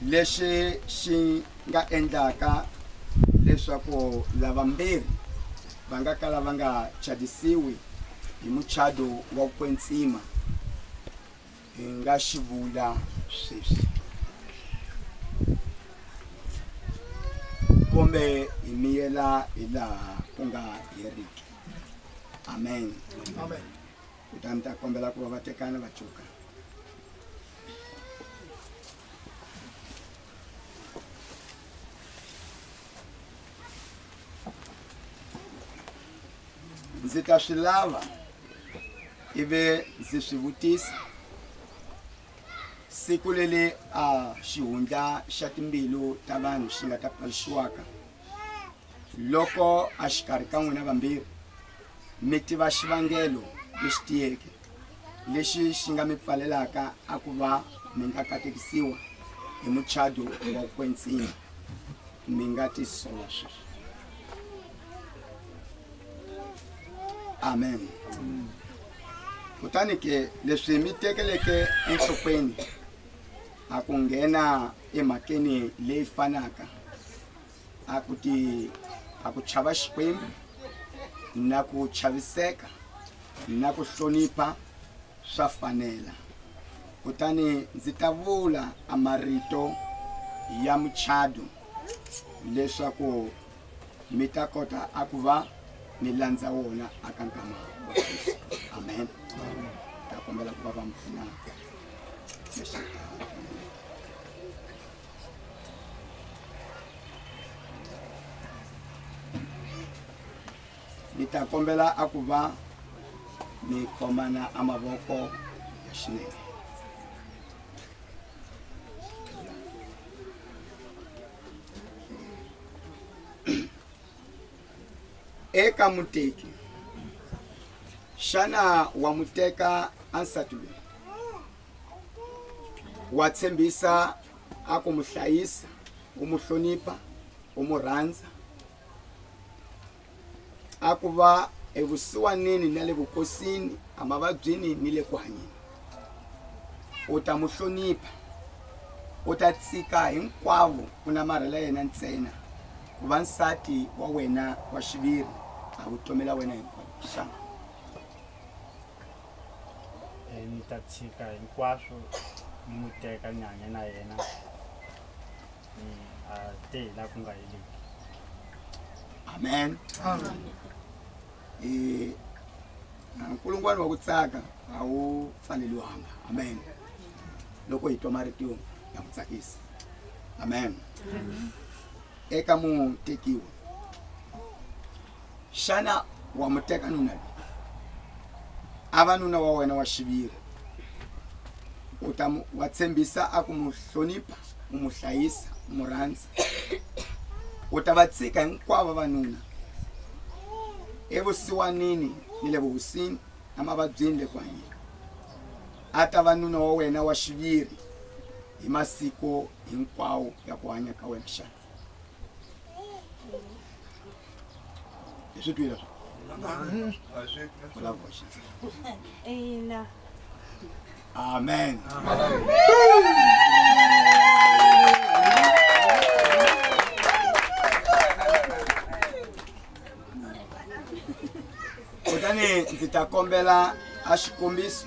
lexi xi nga endlaka leswaku lavambirhi va nga kala va nga chadisiwi hi muchado wa ku kwetsima hi nga xi vula sweswi kumbe hi miyela hi laha ku nga heriki amen, amen. kutani mi ta kombela ku va va tekana va cuka ndzi ta swi lava ivi ndzi swi vutisa siku lele a xihundla xa timbilu ta vanhu xi nga ta paluxiwaka loko a xikarhi ka n'wina vambirhi mi tiva xivangelo lexi tiyeke lexi xi nga mi pfalelaka a ku va mi nga katekisiwa hi muchado wa kwensini mi nga tisola sweswi amen kutani ke leswi mi tekeleke enhlokweni a ku nghena emhakeni leyi fanaka a ku ti a ku chava xikwembu na ku chaviseka na ku hlonipha swa fanela kutani ndzi ta vula a marito ya muchado leswaku mi ta kota a ku va mi landza wona aka nkama amen ta kombela ku va va mi pfuna ni ta kombela a ku va mi khomana a mavoko ya xinene Eka muteki, xana wa n'wi teka ansati loyi? Wa tshembisa a ku n'wi hlayisa, u n'wi hlonipha, u n'wi rhandza, a ku va evusiwanini na le vukosini, emavabyini ni le ku hanyeni. U ta n'wi hlonipha, u ta tshika hinkwavo ku namarhela yena ntsena ku va nsati wa wena wa xiviri a vutomi la wena hinkwayo xana Eh, ni ta tshika hinkwaswo ni n'wi teka ni hanya na yena ni a te hi laha ku nga heleki amen Eh, nkulungwana wa ku tsaka a wu pfaleliwanga amen loko hi twa marito ya ku tsakisa amen eka mutekiwa xana wa mu teka nuna loyi a va nuna wa wena wa xiviri u ta mu- wa tshembisa a ku mu hlonipha u mu hlayisa u mu rhandza u ta va tshika hinkwavo vanuna evusiwanini ni le vuhosini emavabyini le ku hanyeni a ta va nuna wa wena wa xiviri hi masiku hinkwawo ya ku hanya ka wena xana hi swi twile vulavula xitsonga amen kutani ndzi ta kombela a xikombiso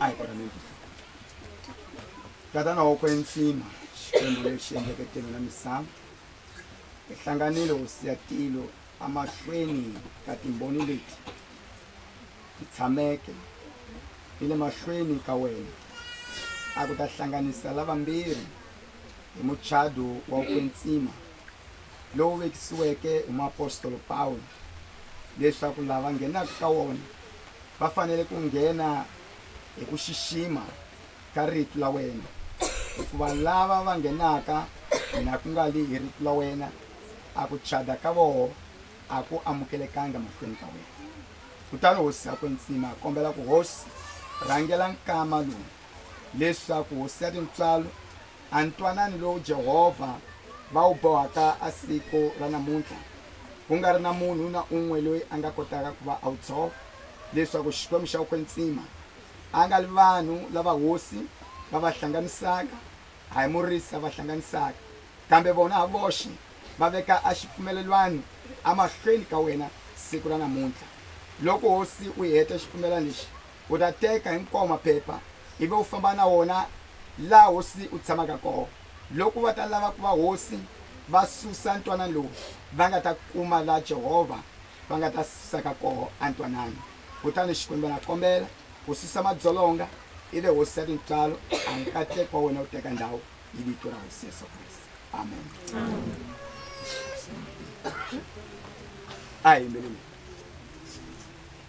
ayikona mingi tatana wa kwentsima xikwembu lexi endleke tilo na misava hi hlanganile hosi ya tilo emahlweni ka timboni leti ti tshameke ni le mahlweni ka wena a ku ta hlanganisa lavambirhi hi muchado wa ku kwetsima lowu vekisiweke hi muapostolo pawulo leswaku lava nghenaka ka wona va fanele ku nghena hi ku xixima ka rito la wena hikuva lava va nghenaka hina ku nga li hi rito la wena a ku chada ka voho a ku amukelekanga mahlweni ka wena kutani hosi a kwetsima kombela ku hosi rhangela nkama lowu leswaku hosi ya tintswalo a ntwanani lowu Jehovha va wu bohaka a siku ra namuntlha, ku nga ri na munhu na un'we loyi a nga kotaka ku va a wu tshova, leswaku Xikwembu xa Ukwetsima a nga li vanhu lava hosi va va hlanganisaka, a hi murisi a va hlanganisaka, kambe vona ha voxe va veka a xipfumelelwano amahlweni ka wena siku ra namuntlha. Loko hosi u heta xipfumelelwano lexi, U ta teka hinkwawo maphepha ivi u famba na wona laha hosi u tshamaka kona. Loko va ta lava ku va hosi va susa ntwanano lowu, va nga ta kuma laha Jehovha va nga ta susaka kona ntwanano. Kutani Xikwembu a nga kombela ku susa madzolonga, ivi hosi ya tintswalo a nkateko wa wena wu teka ndhawu hi vito ra Hosi Yesu Kreste. Amen. A hi yimbeleni.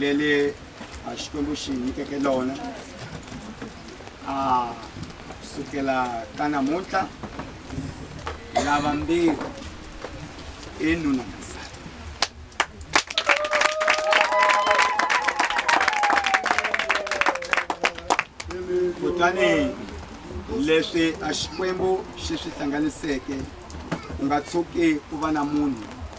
lele a xikwembu xi nyikeke lona a kusukela ka namuntlha lava mbirhi i nuna kutani leswi a xikwembu xi swi hlanganiseke u nga tshuki ku va na munhu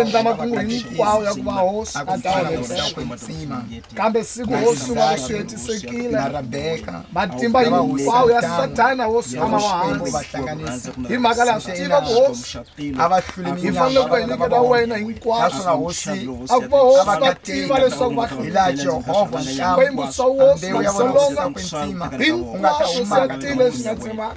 endla makungu hinkwawo ya ku va hosi a dawulesakwetsima kambe siku hosi va ku swihetisekile matimba hinkwawo ya satana hosi a ma vahansi hi mhaka laha swi tiva ku hosi hi fanele ku va hi nyiketa wena hinkwaswo a ku va hosi va tiva leswaku va hilaha jehovha xikwembu xa hosi vasolonga hinkwaswo swi ya tile swi nga tsemanga